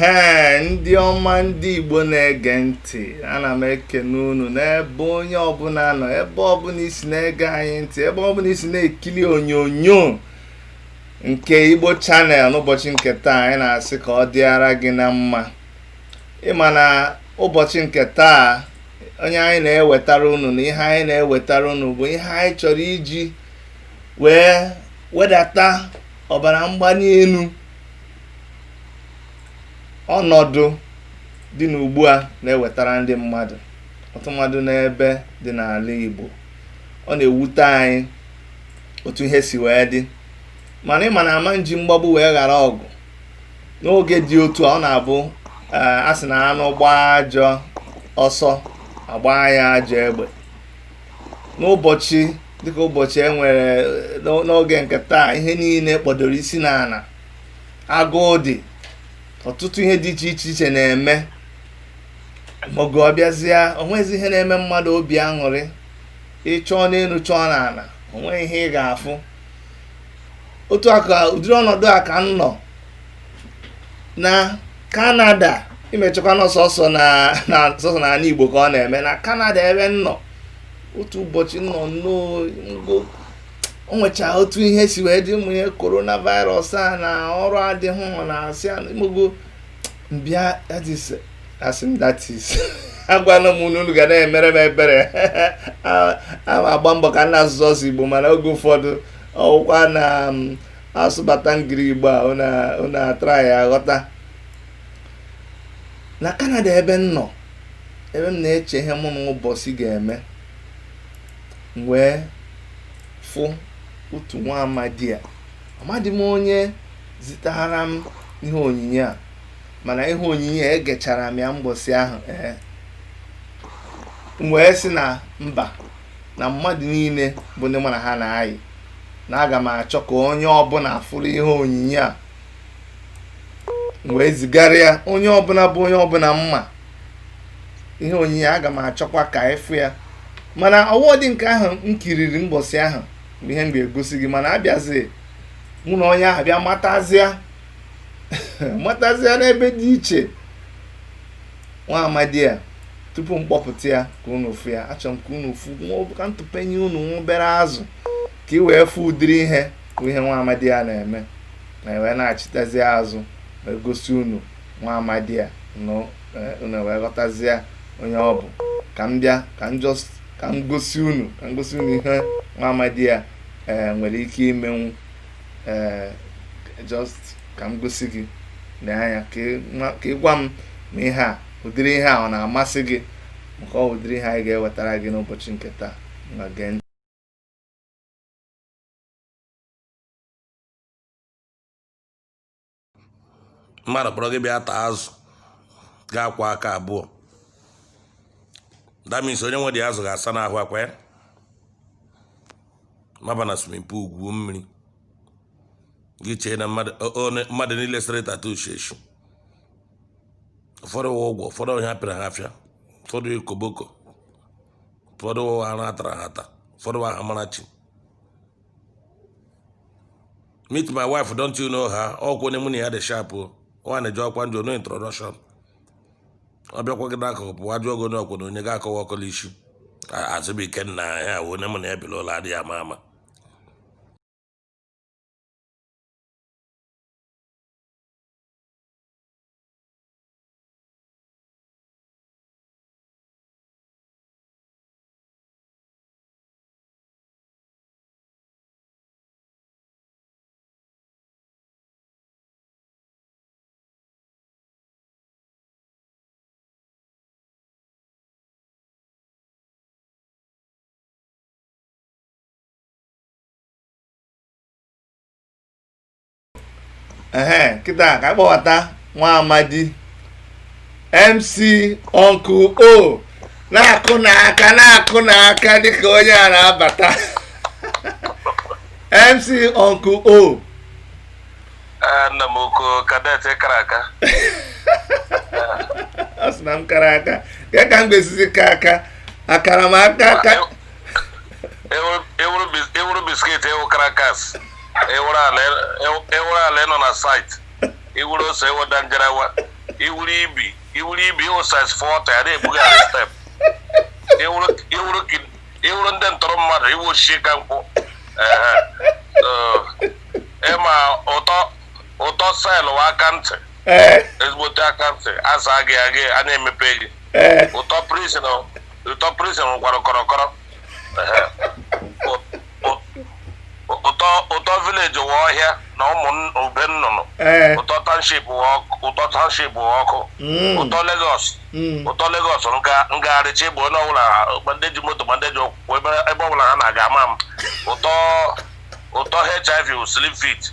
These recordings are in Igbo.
ee ndị ọma ndị igbo na-ege ntị ana m ekene unu n'ebe onye ọbụla nọ ebe ọbụla i si na-ege anyị ntị ebe ọbụla i si na-ekiri onyonyo nke igbo channel n'ụbọchị nke taa anyị na-asị ka ọ dịara gị na mma ị ma na ụbọchị nke taa onye anyị na-ewetara unu na ihe anyị na-ewetara unu bụ ihe anyị chọrọ iji wee wedata ọbara mgbali elu ọnọdụ dị n'ugbu a na-ewetara ndị mmadụ ọtụmadụ n'ebe dị n'ala Igbo ọ na-ewute anyị otu ihe si wee dị mana ị ma na ama nji mgbagbu wee ghara ọgụ n'oge dị otu a ọ na-abụ eh, a sị na anụ gbaa ajọ ọsọ a gbaa ya ajọ egbe n'ụbọchị dịka ụbọchị e nwere eh, n'oge nke taa ihe niile kpọdoro isi n'ala agụụ dị ọtụtụ ihe dị iche iche iche na-eme maọbụ ọ bịazịa o nwezi ihe na-eme mmadụ obi aṅụrị ị chọọ n'elu chọọ n'ala o nweghị ihe ị ga-afụ otu a ka ụdịrị ọnọdụ a ka m nọ na kanada ị ma-echekwa na ọ sọsọ na na sọsọ na ala igbo ka ọ na-eme na kanada ebe m nọ otu ụbọchị m nọ n'ụnọ o nwecha otu ihe si wee dị ụmụ ihe coronavirus a na ọrụ adịghị ọ na-asị a- imogo m bịa that is asị m that is agwala m unu unu ga na-emere m ebere ana m agba mbọ ka m na-asụ sọsọ igbo mana oge ụfọdụ ọ wụkwa na m asụbata engli igbo a unu atraya aghọta na kanada ebe m nọ ebe m na-eche ihe mụ na ụbọchị ga-eme m wee fụ otu nwa amadi a amadị m onye zitara m ihe onyinyo a mana ihe onyinyo a egechara m ya mbọsị ahụ ee m wee sị na mba na mmadụ niile bụ ndị mụ na ha na-ayị na aga m achọ ka onye ọbụla fụrụ ihe onyinyo a m wee zigara ya onye ọbụla bụ onye ọbụla m ma ihe onyinyo a aga m achọkwa ka ị fụ ya mana ọ wụghịdị nke ahụ m kiriri mbọsị ahụ bụ ihe m ga-egosi gị mana abịazi mụ na onye ahụ bịa matazịa matazịa n'ebe dị iche nwa amadi a tupu m kpọpụta ya ka unu fụ ya achọrọ m ka unu fụ ka m tụpenye unu nwa obere azụ ka ị wee fụ ụdịrị ihe bụ ihe nwa amadi a na-eme na e wee nachitazia azụ wee gosi unu nwa amadi a eh, unu wee ghọtazie onye ọ bụ ka m bịa ka m just ka m gosi unu ka m gosi unu ihe nwa amadi a ee nwere ike imenwu ee just ka m gosi gị lee anya ka ị gwa m ma ihe a ụdịrị ihe a ọ na-amasị gị maka ọ wụ ụdịrị ihe anyị ga-ewetara gị n'ụbọchị nke taa na gee ntị mmadụ kpọrọ gị bịa taa azụ ga-akwa aka abụọ damis onye nwe dị azụ ga-asa n'ahụ akwa ya maba na swimming pool gwuo mmiri gị chee na mmadụ niile sere tattoo sheshi ụfọdụ wụ ụgwọ ụfọdụ onye apịara ha afịa ụfọdụ koboko ụfọdụ arụ a tara ha ata ụfọdụ wụ aha Amarachi meet my wife don't you know her ọkwa onye mụ na ya dị sharp o nwaanyị jọọ kwa njọ no introduction ọ bịakwa gị n'akụkụ pụwa jụọ gị onye ọkwụna onye ga-akọwa ọkọla isi azụbụike nna ya wụ onye mụ na ya bi l'ụlọ adịghị ama ama ee kịta ka a kpọbata nwa amadi mc uncle o na-akụnụ aka na-akụnụ aka dịka onye a na-abata mc uncle o Ee, nna m ukwu kadet kara aka ọ sị na m kara aka kee ka m ga-esizi kaa aka akara m aka aka ị wụrụ biscuit ị wụ crackers ị wụrụ ala ị wụrụ ala ị nọ na site ị wụrụ ose ị wụ danjarawa ị wụrụ ibi ị wụrụ ibi ị wụ size 40 ya na-ebugharị step ị wụrụ ị wụrụ ki- ị wụrụ ndị ntọrọ mmadụ ị wụ Osisikankwụ Ehe. Eh, ị ma ụtọ ụtọ cell wụ aka ntị ee ezigbote aka ntị asa gị agị a na-emepe gị ee ụtọ prison ụtọ prison gwara kọrọkọrọ Ehe. Ụ- ụtọ ụtọ village wụ ọhịa na ụmụ nn- ube nnụnụ ee ụtọ township wụ ọkụ ụtọ township wụ ọkụ mm, ụtọ Lagos mm, ụtọ Lagos nga ngagharịcha ịbụ onye ọbụla ma ndị ji moto ma ndị ji ụkwụ ebe ebe ọbụla ha na-aga ama m ụtọ ụtọ hiv wụ slim fit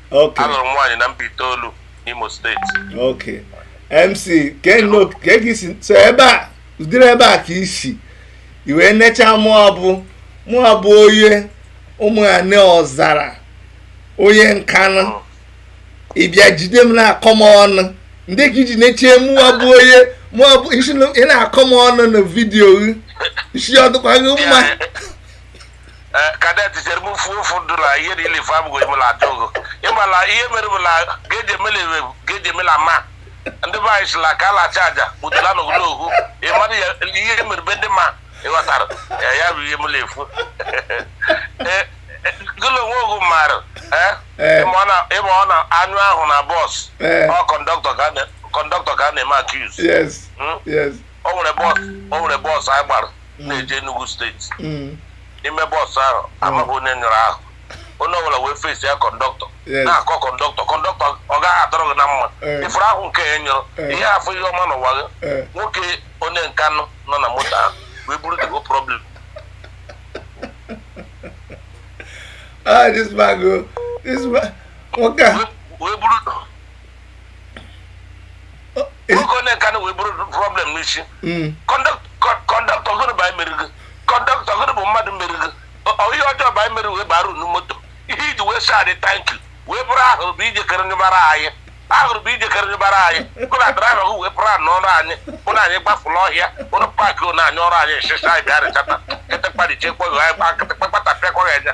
Okay. alụrụ m nwaanyị na Mbaitoolu n'Imo steeti Okay. MC Keno ka gị si so ebe a ụdịrị ebe a ka i si i wee necha mụwa bụ mụwa bụ onye ụmụ ya ne Ọzara onye Nkanụ ị bịa jide m na-akọ m ọnụ ndị ka i ji nechie mụwa bụ onye mụwa bụ isi na- ị na-akọ m ọnụ na vidiyo gị isi ọ dịkwa gị mma eh, kadet chere m fuo ofu ndụ na ihe niile ife abụghị m na-ajụ ogo ị mala ihe mere bụ na geji emela ewe geji emela ma ndị be anyị sila ka ala acha aja kpụtara n'ogologo okwu ị mara ya ihe mere be ndị ma ị ghọtara ya ya bụ ihe m na-efu Eh, eh, gụlụ onwe ogu maara eh, Eh. ị ma ọ na- ị ma ọ na-anyụ ahụ na bọs Eh. ọ kọndọktọ ka a na- kọndọktọ ka a na-eme accuse yes Mm. yes o nwere bọs o nwere bọs anyị gbara na-eje Enugu steeti Mm. n'ime bọs ahụ amaghị onye nyụrụ ahụ onye ọbụla wee face ya kọndọktọ Yes. na-akọ kọndọktọ kọndọktọ ọ gaghị adịrị gị na mma Eh. ị fụrụ ahụ nke a ị nyụrụ Eh. ị ya-afụ ihe ọma n'ụwa gị Eh. nwoke onye Nkanụ nọ na moto ahụ wee buru the whole problem Ah, this man go. This man. Nwoke a. wee buru oge onye Nkanụ wee buru problem n'isi kọndọktọ gụnụ bụ anyị mere gị kọndọktọ gụnụ bụ mmadụ mere gị Ọ- ihe ọjọọ bụ anyị mere wee bara unu moto ihe i ji wee sị anyị thank you wee bụrụ ahụrụ bụ ije kere nyụbara anyị ahụrụ bụ ije kere nyụbara anyị bụ na draiva gị wee pụrụ anụ ọrụ anyị bụ na anyị gbafụrụ ọhịa ụrụ paakị unu anyị ọrụ anyị esesa anyị bịa rịchata kịtịkpa dị chekwa anyị kpa kịtịkpa kpata pịakwa ya anya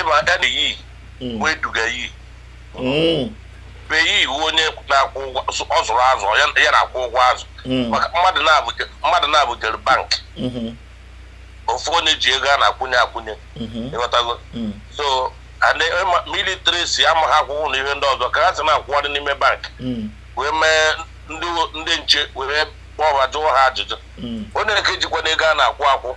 ịba ede yi bụ eduga yi beyi iwu onye na-akwụ ụgwọ ọ zụrụ azụ ya ya na-akwụ ụgwọ azụ maka mmadụ na-abụ mmadụ na-abụ jere bank ofu onye ji ego a na-akwụnye akwụnye ị ghọtago so and ịma- military si ama ha akwụkwọ na ihe ndị ọzọ ka ha si na-akwụgharị n'ime bank wee mee ndị ndị nche were kpọọ ha jụọ ha ajụjụ onye nke jikwanụ ego a na-akwụ akwụ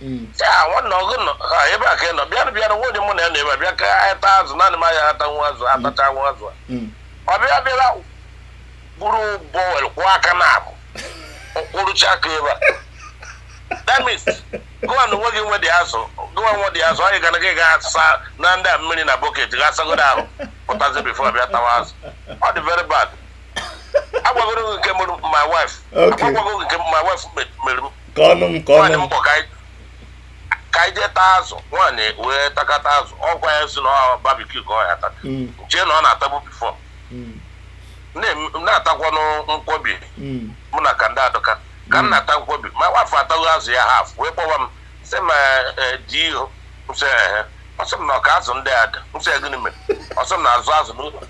Mm. ya nwanne ọgụ nọ ha ebe a ka ị nọ bịanụ bịanụ nwunye mụ na ya nọ ebe a bịa ka anyị taa azụ naanị mụ na ya ata nwa azụ atacha nwa azụ a. Mm. ọ bịa bịara buru bọwel kwọọ aka na abụ kwọrọcha aka ebe a damis gụwa na onwe gị nwedị azụ gụwa nwedị azụ anyị gara gị ga sa na ndị a mmiri na bọket ga asagodo ahụ pụtazi bifo ị bịa tawa azụ ọ dị very bad agwagoro gị nke mụrụ my wife Okay. agwagwago gị nke my wife me- mere m ka ọnụ m ka nwaanyị ọnụ m mkpọ ka anyị- ka anyị jee taa azụ nwaanyị wee takata azụ ọ gwa ya si na ọ barbecue ka ọ ga-ata m chee na ọ na-atabu before mm, na-em- na-atakwanụ nkwobi mm, mụ na ka ndị adụka ka m na-ata nkwobi ma nwafọ ataghị azụ ya half wee kpọwa m sị m eh, di ihu m sị ehe ọ sị m na ọ ka azụ ndị a dị m sị ya gịnị mere ọ sị m na azụ a zụ n'ụlọ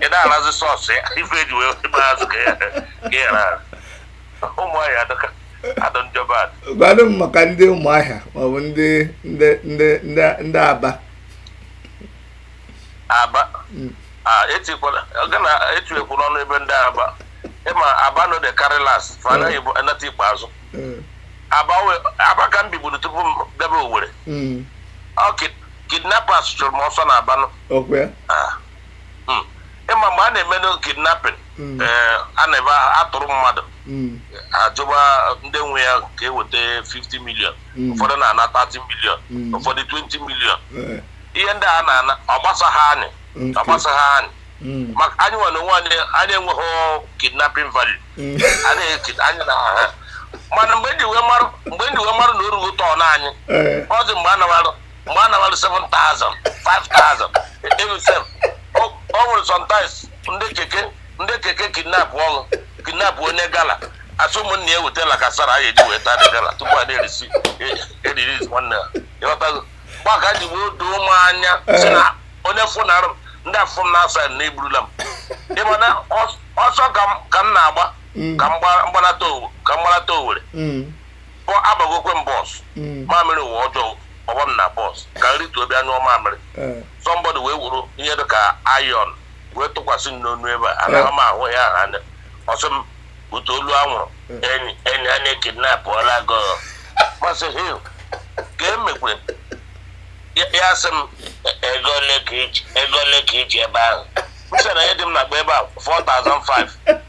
ị na-arazi sauce ya ife e ji wee gba azụ ka ya ghara ụmụ anyị adọka adọ njọba adọ gwanụ m maka ndị ụmụahịa maọbụ ndị ndị ndị ndị ndị aba aba a etikwala oge na etuekwu n'ọnụ ebe ndị aba ịma aba no dey carry last fa anaghị bụ anata ikpeazụ Mm, aba we- aba ka m biburu tupu m bịaba owere mm, okay kidnappers chụrụ m ọsọ na aba nụ ah. hmm. ịma mgbe a na-eme kidnapping hmm. eh, a na-ebe a tọrọ mmadụ hmm. achọba ndị nwe ya ka e weta 50 million ụfọdụ na-ana 30 million ụfọdụ 20 million eh. ihe ndị a na-ana ọ gbasaghị anyị ọ gbasaghị anyị maka anyị nwere onwe anyị anyị enweghị kidnapping value anyị na ha mana mgbe m ji wee marụ na o rugo turn anyị eh. ọ dị mgbe a na-arụ mgbe a nabalụ 7,000 5,000 even sef o nwere sometimes ndị keke ndị keke kidnapụrụ kidnap onye gala a sị ụmụnne ya wete lacasera anyị eji wee taa the gala tupu a na-erelease nwanne ya ịghọtago ebe a ka o ji wee doo m anya si na onye fụ na arụ ndị afọ m na-asa na eburula m ịma na ọsọ ka m na-agba ka m gbanata owere ọ agbagokwe m bus mm. mamịrị ụwa ọjọọ ọ gbaa m na bus ka m rituo bịa nyụọ mamịrị eh. somebody wee wuru ihe dị ka iron wee tụkwasị m n'onu ebe a anaghị eh. m ahụ ya anya ọ sị m bute olu anwụrụ eh. enyi enyi a na ekidnapụọla gị m sị hee ka e mekwere ya sị m e, ego ole ka i ji ebe ahụ m sị na ihe dị m n'akpa ebe a 4005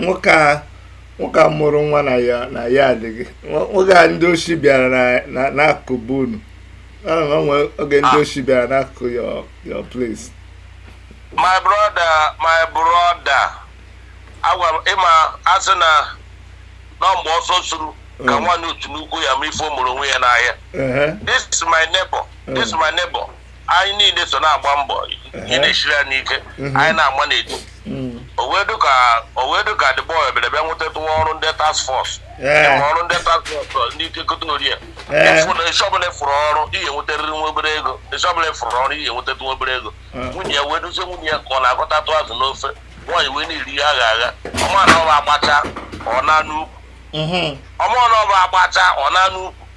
nwoke a nwoke a mụrụ nwa na ya na ya adịghị nwoke a ndị oshi bịara n'akụkụ be unu o nwe oge ndị ah. oshi bịara n'akụkụ your place my brother my brother agwa m ịma a sị na ọ mgbe ọsọ suru ka mm. nwaanyị ọtụ nnukwu ya ama ife o merụ onwe ya n'ahịa this is my neighbor this is my neighbor anyị niile so na-agba mbọ ihe na-esiri anyị ike anyị na-agba n'eju o wee dị ka o wee dị ka the boy bịara bịa nwetatụ nwa ọrụ ndị task force Ee. ma ọrụ ndị task force ndị ike keta orie Ee. ịfụ na isi ọbụla ịfụrụ ọrụ ihe nwetarịrị nwa obere ego isi ọbụla ịfụrụ ọrụ ihe nweta nwa obere ego nwunye ya wee duzie nwunye ya ka ọ na-egotatụ azụ n'ofe nwaanyị wee na-eri ihe agha agha ọma na ọba agbacha ọ na n'ukwu Mhm. ọma na ọba agbacha ọ na n'ukwu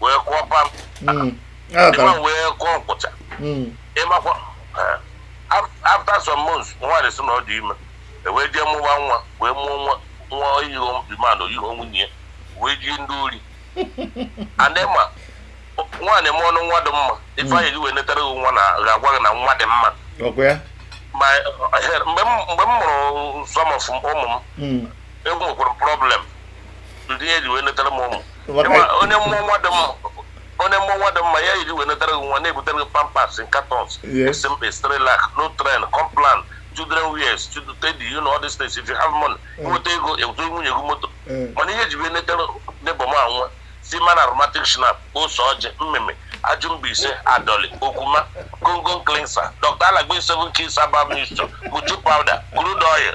wee kụọ pam mm. ịma wee kụọ nkwụcha mm. ịmakwa eh, after some months nwaanyị sị na ọ dị ime e wee jee mụwa nwa wee mụọ nwa nwa o yiho the man o yiho nwunye ya wee yie ndị ori anema nwaanyị mụọnụ nwa dị mma ife e ji wee netara gị nwa ga-agwa gị na nwa dị mma eh, mgbe m mụrụ some of ụmụ m enwekwara problem ihe e ji wee letara m ụmụ onye mụọ nwa dị mma onye mụọ nwa dị mma ihe e ji wee letara gị nwa na-ebutere gị Pampers in cartons SMA Cerelac Nutrend Complan children wears children teddy you know all these things if you have money mm. nweta ego ebuzo nwunye gị moto mm. mana ihe e ji wee letara neighbour m nwa Seaman aromatic schnapp ose ọjị mmịmị Aju Mbaise Adoli, Okwuma, Goko Cleanser, Dr. Aladdin Seven Keys Herbal Mixture, Moju Powder, Crude Oil,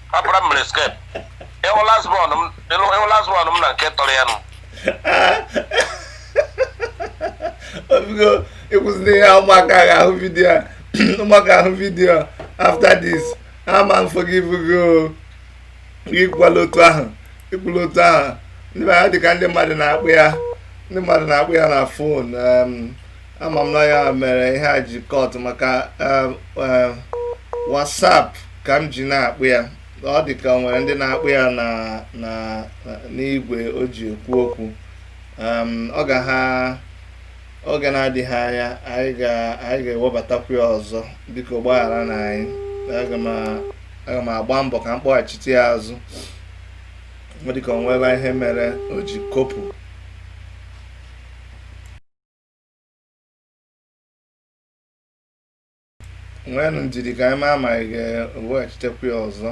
ọkpara m mere escape ị hụ last born m ị lụ ị hụ last born m na nke tọrọ ya nụ o biko ị kwụsịrị ihe ụmụaka ga-ahụ vidiyo a ụmụaka ahụ vidiyo a after this ama m forgive gị o ekwukwala otu ahụ ekwula otu ahụ ndị mmadụ dịka ndị mmadụ na-akpọ ya ndị mmadụ na-akpọ ya na phone em, ama m na ya mere ihe a ji cut maka um, um, WhatsApp ka m ji na-akpọ ya ọ dị ka e nwere ndị na-akpọ ya n'igwe o ji ekwu okwu um, ọ ga ha oge na-adịghị anya anyị ga-ewebatakwu ya ọzọ biko gbagharanụ anyị aga m agba mbọ ka m kpọghachite ya azụ ọ dịka o nwela ihe mere o ji kopụ nweenụ ndidi ka anyị ma ma ị ga-eweghachitekwa ya ọzọ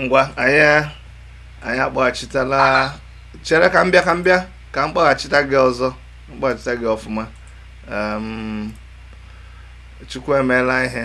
ngwa anyị anyị akpọghachitala chere ka m bịa ka m bịa ka m kpọghachita gị ọzọ m kpọghachita gị ọfụma chukwu emeela ihe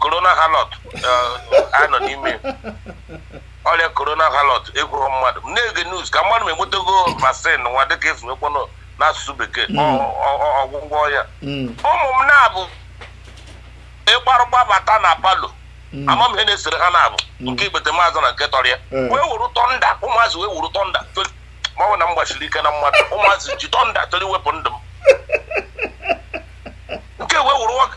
corona harlot eh, a nọ n'ime ọrịa corona harlot ekweghị mmadụ m na-ege news ka mmadụ ma enwetago vaccine nwa dịka e si wekwanụ n'asụsụ bekee hmm. ọgwụgwọ ya hmm. ụmụ m na-abụ ị gbarụ gbabata na parlour hmm. ama m ihe na-esere ha na-abụ nke igbete maazị na nke tọrọ ya eh. wee wuru thunder ụmụazị wee wuru thunder ma ọ na m gbachiri ike na mmadụ ụmụazị ji thunder chọrọ iwepụ ndụ m nke wee wuru nwoke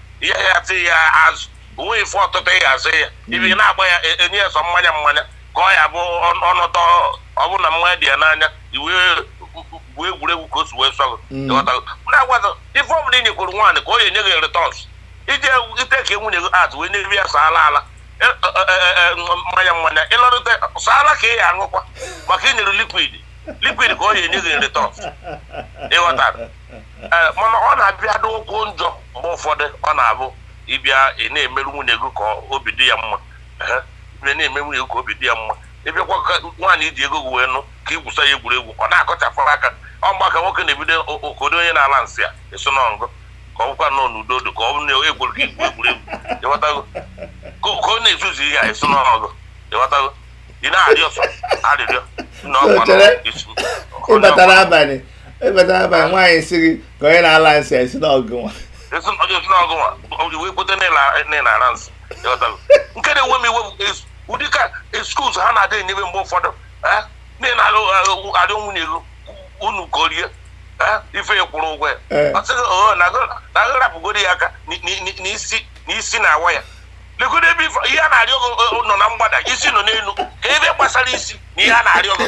ihe ya tị ya azụ o nwe ife ọtụtụ ya azụ ya ibi mm. na-agba ya e, enye ya sọ mmanya mmanya ka ọ ya bụ ọnụtọ ọ bụrụ na mmanya dị ya n'anya i wee gwuo egwuregwu ka o si wee sọ gị mm. na-agwaza ife ọbụla ị nyekwuru nwaanyị ka ọ ya enye gị returns ije ite ka nwunye gị atụ wee na-ebi ya saala ala e, e, mmanya mmanya ịlọrịta saala ka ị ya aṅụkwa maka i nyere liquid liquid ka ọ ya-enye gị nri tọf ị ghọtara ee mana ọ na-abịa dịkwuo njọ mgbe ụfọdụ ọ na-abụ ị bịa ị na-emerụ nwunye gị ka obi dị ya mma Ehe, ị bịa na-eme nwunye gị ka obi dị ya mma ị bịakwa ka nwaanyị i ji ego gị wee nụ ka i gwusa ya egwuregwu ọ na-akọchapụ aka ọ mgba ka nwoke na-ebido o- o- ka ụdị onye na-ala nsị a eso na ngụ ka ọ bụkwa nọ n'udo dị ka ọ bụ na egwuru gị igwu egwuregwu ị ghọtago ka ka ọ na-ezuzu ihe a eso na ngụ ị ghọtago ị na-arịọ sọ arịrịọ nna ọkwa nọ Chere. isi- ị batara abalị ebeta ebe a nwaanyị sị gị ka onye na-ala nsị esi n'ọgụ nwa esi ọjọ esi n'ọgụ nwa ọjọ wee kpote na-ara nsị nke na-enwe m iwe ụdị ka excuse ha na-adị enyebe mgbe ụfọdụ nne na-alụ adị nwunye gị unu korie ife kwụrụ ụgwọ ya ọ sị gị oo na agharapụgoro ya aka n'isi na-awa ya legodu ebe ihe a na-arịọ gị nọ na mgbada isi nọ n'elu kee ebe gbasara isi na ihe a na-arịọ gị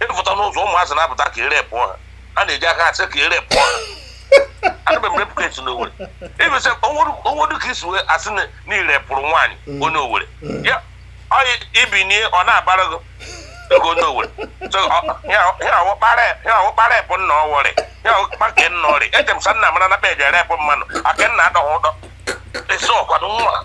ị pụta n'ụzọ ụmụazị na-apụta ka ere pụọ ha ha na-eji aka asị ka ere pụọ ha adịbe m repụta esi n'owere ibesa o nwedu ka i si wee asị na ire pụrụ nwaanyị mm. onye owere mm. ya ọyị i binie ọ na-abara gị ego onye owere ya awụkpara epụ nna ọwọrị ya awụkpa nke nna ọrị eche m sa nna mara na peji ere epụ mmanụ aka nna adọghị ụdọ esi ọkwado nwa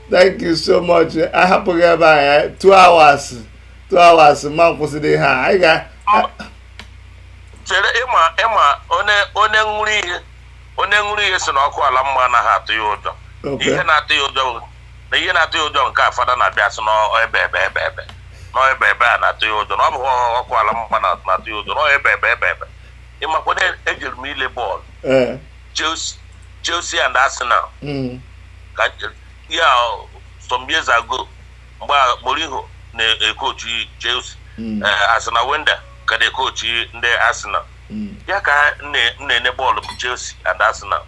thank you so much a hapụ gị ebe a ya two hours two hours ma kwụsịrị ihe a anyị ga chere ịma ịma onye onye ṅụrụ ihe onye ṅụrụ ihe sị na ọkụ ala mmụọ anaghị atụ ya ụjọ Okay. ihe na-atụ ya ụjọ bụ- na ihe na-atụ ya ụjọ nke a fada na-abịa sị n'ebebe ebebe n'ebebe a na-atụ ya ụjọ na ọ bụ ọkụ ala mmụọ na- na-atụ ya ụjọ n'ebebe ebebe ị makwa na ejere m ile bọọlụ ee Chelsea, Chelsea and Arsenal. Mm. Yeah, some years ago, mgbe Mourinho na-ekochi Chelsea, mm. uh, Arsene Wenger ka na-ekochi ndị Arsenal. Mm. Yeah, ka m na-ele bọọlụ Chelsea and Arsenal.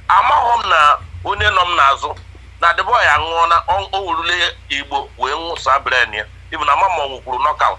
Amaghị m na onye nọ m n'azụ na the boy a anwụọna o werule igbo wee nwụsa brain ya ibu na mama ọ nwụkwuru knockout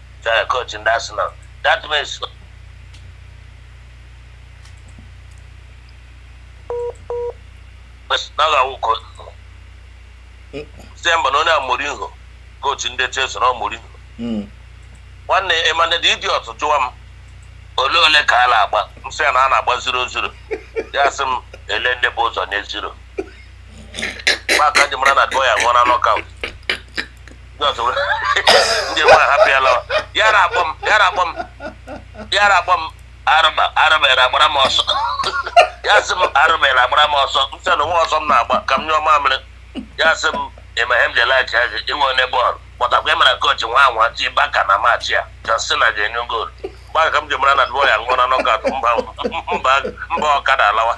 Chaya coach ndị Arsenal. That means na ọ ga-awụ coach. Sị ya mba na onye a Mourinho, coach ndị Chelsea na ọ Mourinho. Mm. Nwanne Emmanuel the idiot jụwa m ole ole ka a na-agba m sị ya na a na-agba zero zero ya sị m ele ndị bu ụzọ nye zero mgbe a ka m ji mara na the boy a anwụọna knockout ndị nwa hapụ ya lawa ya na-akpọ m ya na-akpọ m ya na-akpọ m arụba arụbere agbara m ọsọ ya sị m arụbere agbara m ọsọ m sị na nwa ọsọ m na-agba ka m nyụọ mamịrị ya sị m ị ma ihe m ji laikịa gị inwe onye bọọlụ kpọtakwa ịmara kochi nwa anwa ti baka na match a Arsenal ga-enye goolu mgbe a ka m ji mara na the boy a anwụọna knockout mba mba m baa ọkada alawa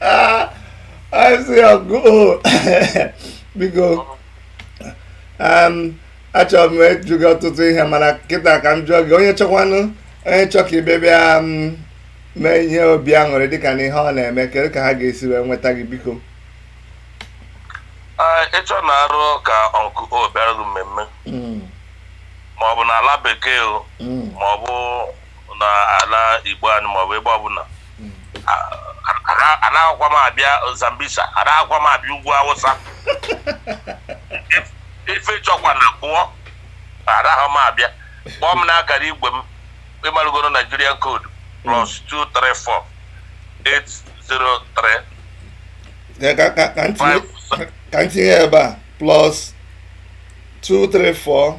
Ah, I see a goal. Biko, um, achọrọ m ịjụ gị ọtụtụ ihe mana kịta ka m jụọ gị onye chọkwanụ onye chọ ka ị bịa um, mee ihe obi aṅụrị dịka na ihe ọ na-eme kedu ka ha ga-esi wee nweta gị biko Ee, ị chọọ na arụ ka ọnkụ o bịara gị mmemme Mm, ma ọ bụ na ala bekee o mm, ma ọ bụ na ala igbo anyị ma ọ bụ ebe ọbụla anaghịkwa m abịa Zambisa anaghịkwa m abịa ugwu Awụsa ife chọkwa na pụọ anaghị m abịa kpọọ m n'akara igwe m ị marugoro Nigerian code plus 234 803 ka m tinye ebe a plus 234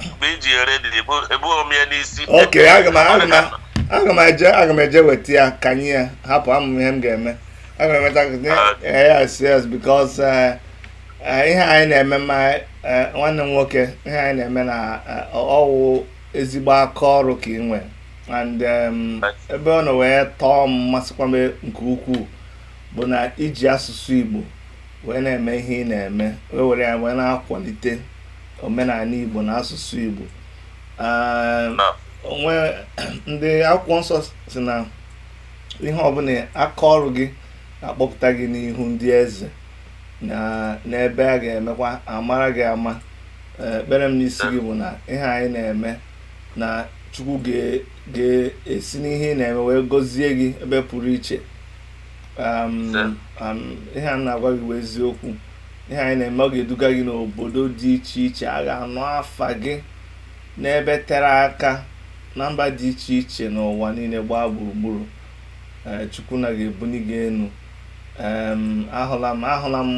mgbe i ji ready ebughị m ya n'isi ok aga m aga m aga m eje aga m eje weta ya ka anyị ya hapụ ama m ihe m ga-eme aga m emeta gị yes yes because eh, eh, ihe anyị na-eme ma eh, nwanne m nwoke ihe anyị na-eme na eh, ọ wụ ezigbo aka ọrụ ka ị nwere and em, ebe ọ nọ wee tọọ m masịkwa m nke ukwuu bụ na i ji asụsụ Igbo wee na-eme ihe ị na-eme wee were ya wee na-akwalite omenaanị Igbo na asụsụ Igbo o nwe ndị akwụkwọ nsọ sị na ihe ọ bụla aka ọrụ gị akpọpụta gị n'ihu ndị eze n'ebe a ga-emekwa a mara gị ama ekpere m n'isi gị bụ na ihe anyị na-eme na chukwu ga-esi n'ihe ị na-eme wee gọzie gị ebe pụrụ iche ihe a na-agwa gị bụ eziokwu ihe anyị na-eme ọ ga-eduga gị n'obodo dị iche iche a ga-anụ afa gị n'ebe tere aka na mba dị iche iche n'ụwa niile gbaa gburugburu eh, chukwu na ga-ebuni gị enu ahụla m ahụla m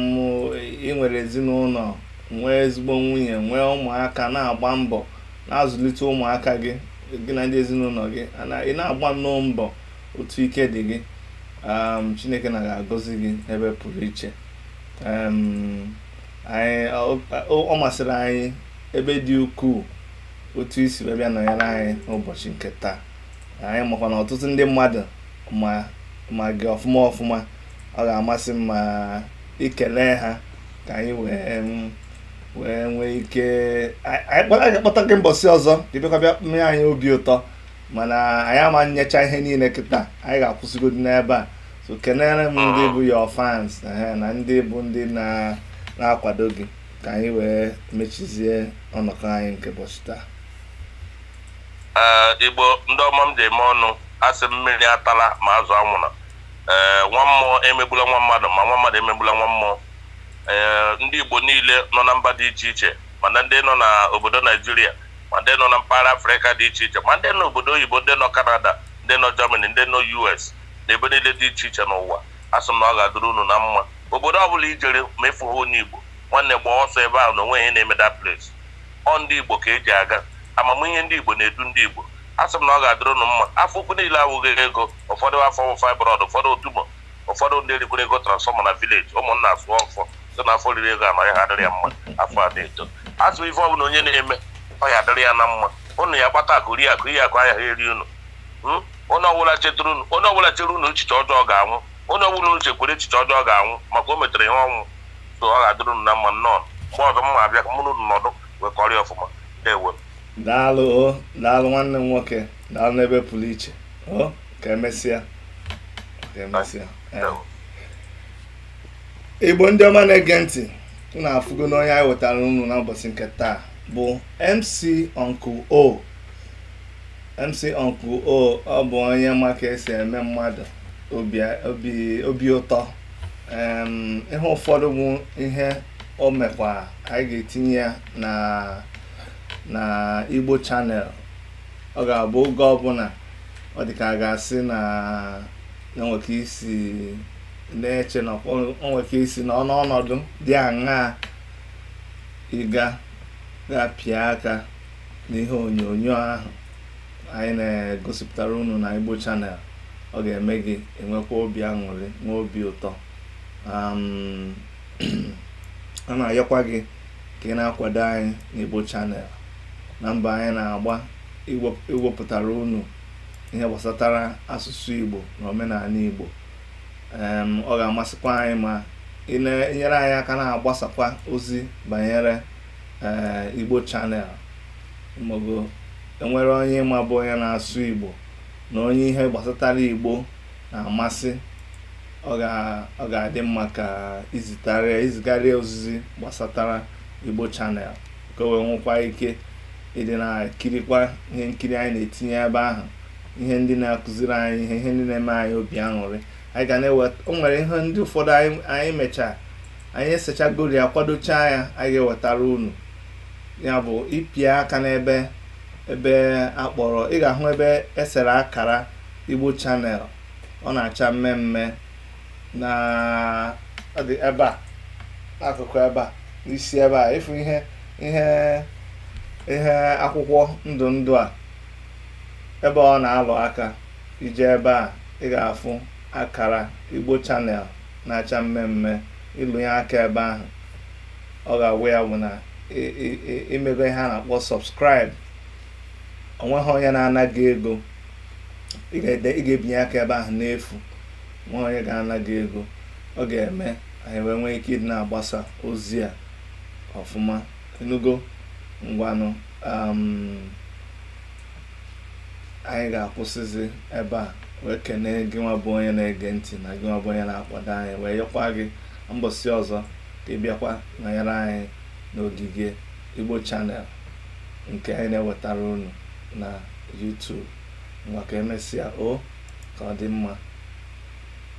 i nwere ezinụnọ nwee ezigbo nwunye nwee ụmụaka na-agba mbọ na-azụlite ụmụaka gị gị na ndị ezinụnọ gị ị na-agba nnọọ mbọ otu ike dị gị chineke na ga-agọzi gị n'ebe pụrụ iche ọ masịrị anyị ebe dị ukwuu otu i si wee bịa nọnyere anyị n'ụbọchị nke taa anyị makwa na ọtụtụ ndị mmadụ ma gị ọfụma ọfụma ọ ga-amasị m ma i kele ha ka anyị wee wee nwee ike anyị kpọta gị mbọsị ọzọ ka ị bịakwa bịa mee anyị obi ụtọ mana anyị ama nyecha ihe niile kịta anyị ga-akwụsịgodi n'ebe a so kenere m ndị bụ your fans na ndị bụ ndị na-akwado gị ka anyị wee mechizie ọnọkọ anyị nke ụbọchị taa eh, igbo ndị ọma m ji eme ọnụ a sị mmiri atala ma azụ anwụna eh, nwa mmụọ emegbula nwa mmadụ ma nwa mmadụ emegbula nwa mmụọ eh, ndị igbo niile nọ na mba dị iche iche mana ndị nọ n'obodo naijiria ma ndị nọ na mpaghara afrịka dị iche iche ma ndị nọ n'obodo oyibo ndị nọ kanada ndị nọ germany ndị nọ us na ebe niile dị iche iche n'ụwa, asị m na ọ ga-adịrị unu na mma. Obodo ọ bụla i jere ma ị fụghị onye Igbo, nwanne gbaa ọsọ ebe ahụ na o nweghị ihe na-eme that place. Ọ ndị Igbo ka e ji aga. Amamihe ndị Igbo na-edu ndị Igbo. Asị m na ọ ga-adịrị unu mma. Afọ ukwu niile awụghị ego. Ụfọdụ afọ wụ fibroid, ụfọdụ ọ tumor, ụfọdụ ndị erikwere ego transformer na village. Ụmụnna asụọ ọfọ sị na afọ riri ego a na ọ ya ha adịrị ya mma. Afọ a na-eto. Asị m ife ọ bụla onye na-eme, ọ ya adịrị ya na mma. Unu ya-akpata akụ rie akụ, ihe akụ anaghị eri unu. Hmm? onye ọbụla chetara unu onye ọbụla chere unu echiche ọjọọ ga-anwụ onye ọbụla unu chekwere echiche ọjọọ ga-anwụ maka o metere ihe ọnwụ so ọ ga-adịrị unu na mma nnọọ mgbe ọzọ m ma-abịa ka mụ na unu nọdụ wee kọrịa ọfụma ndewo daalụ o daalụ nwanne m nwoke daalụ n'ebe pụrụ iche o ka emesịa ka emesịa ee. ndewo igbo ndị ọma na-ege ntị unu afụgo na onye anyị wetara unu n'ụbọchị nke taa bụ mc uncle o MC Uncle O ọ bụ onye ma ka esi eme mmadụ obi ụtọ ihe ụfọdụ bụ ihe o mekwa anyị ga-etinye ya na na Igbo Channel ọ ga-abụ oge ọbụla ọ dị ka a ga-asị na o nwe ka isi na-eche na o nwe ka isi na-anọ ọnọdụ dị aṅaa ị ga-aga pịa aka n'ihe onyonyo ahụ anyị na-egosipụtara unu na Igbo Channel ọ ga-eme gị enwekwa obi aṅụrị nwee obi ụtọ a na-ayọkwa gị ka ị na-akwado anyị na Igbo Channel na mbọ anyị na-agba iwepụtara unu ihe gbasatara asụsụ Igbo na omenala Igbo ọ ga-amasịkwa anyị ma ị na-enyere anyị aka na-agbasakwa ozi banyere ee Igbo Channel maọbụ enwere onye ịma bụ onye na-asụ Igbo na onye ihe gbasatara Igbo na-amasị ọ ga-adị mma ka izitarịa izigharịa ozizi gbasatara Igbo Channel ka o wee nwekwa ike ịdị na-ekirikwa ihe nkiri anyị na-etinye ebe ahụ ihe ndị na-akụziri anyị ihe ihe ndị na-eme anyị obi aṅụrị anyị ga na-eweta o nwere ihe ndị ụfọdụ anyị mechaa anyị esechagoro ya kwadochaa ya anyị ga-ewetara unu ya bụ ịpịa aka n'ebe ebe akpọrọ ị ga-ahụ ebe esere akara igbo channel ọ na-acha mme mme na-adị ebe a akụkụ ebe a n'isi ebe a ịfụ ihe ihe ihe akwụkwọ ndụ ndụ a ebe ọ na-alụ aka i je ebe a ị ga-afụ akara igbo channel na-acha mme mme ịlụ ya aka ebe ahụ ọ ga-awụ ya bụ na imego ihe a na-akpọ subscribe onweghị onye na-ana gị ego ị ga-ebinye aka ebe ahụ n'efu onweghị onye ga-ana gị ego ọ ga-eme anyị wee nwee ike ịdị na-agbasa ozi a ọfụma ịnụgo ngwanụ um, anyị ga-akwụsịzi ebe a wee kenee gị nwa bụ onye na-ege ntị na gị nwa bụ onye na-akwado anyị wee yọkwa gị mbọsị ọzọ ka ị bịakwa nọnyere anyị n'ogige Igbo Channel nke anyị na-ewetara unu na YouTube ngwa ka emesịa o ka ọ dị mma